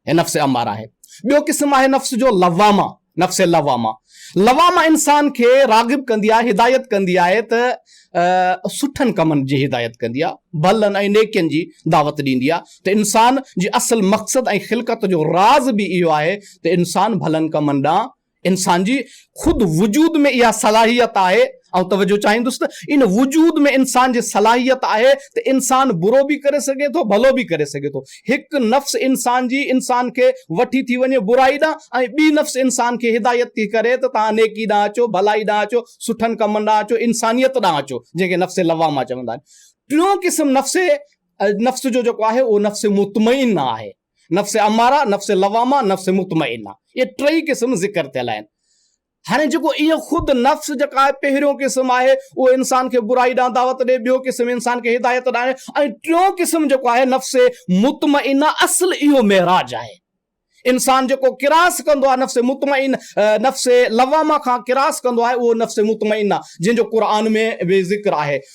هي نفس اماره آهي. ٻيو قسم آهي نفس جو لوامه، نفس لوامه. لوامه انسان کي راغب ڪندي آهي، هدايت ڪندي آهي ته سٺن ڪمن جي هدايت ڪندي آهي، ڀلن ۽ نيڪين جي دعوت ڏيندي آهي ته انسان جي اصل مقصد ۽ خلقت جو راز به اهو آهي ته انسان ڀلن ڪمن ڏانهن انسان جي خود وجود ۾ اها صلاحيت آهي، آئون توجه چاهيندس ته ان وجود ۾ انسان جي صلاحيت آهي ته انسان برو به ڪري سگهي ٿو ڀلو به ڪري سگهي ٿو. هڪ نفس انسان جي انسان کي وٺي ٿي وڃي برائي ڏانهن ۽ ٻي نفس انسان کي هدايت ٿي ڪري ته توهان نيڪي ڏانهن اچو، ڀلائي ڏانهن اچو، سٺن ڪمن ڏانهن اچو، انسانيت ڏانهن اچو، جنهن کي نفس لوامه چوندا آهن. ٽيون قسم نفس نفس جو جيڪو آهي اهو نفس مطمئن آهي. نفس اماره، نفس لوامه، نفس مطمئنه اهي ٽئي قسم ذڪر ٿيل آهن. هاڻي جيڪو اهو خود نفس جيڪا آهي پهريون قسم آهي اهو انسان کي برائي ڏانهن دعوت ڏي، ٻيو قسم انسان کي هدايت ڏانهن ۽ ٽيون قسم جيڪو آهي نفس مطمئنه اصل اهو معراج آهي. انسان جيڪو ڪراس ڪندو آهي نفس مطمئنه نفس لوامه کان ڪراس ڪندو آهي اهو نفس مطمئنه جنهن جو قرآن ۾ به ذڪر آهي.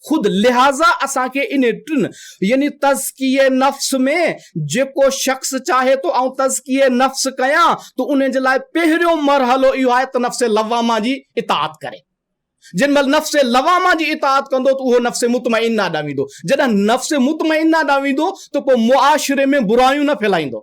خود لهٰذا اسان کي انهي ٽن يعني تزڪيه نفس ۾ جيڪو شخص چاهي ٿو آئون تزڪيه نفس ڪيان ته انهي جي لاء پهريون مرحلو اهو آهي ته نفس لوامه جي اطاعت ڪري. جنهن مهل نفس لوامه جي اطاعت ڪندو ته اهو نفس مطمئنه ڏانهن ويندو. جڏهن نفس مطمئنه ڏانهن ويندو ته پوء معاشري ۾ برايون نه ڦهلائيندو.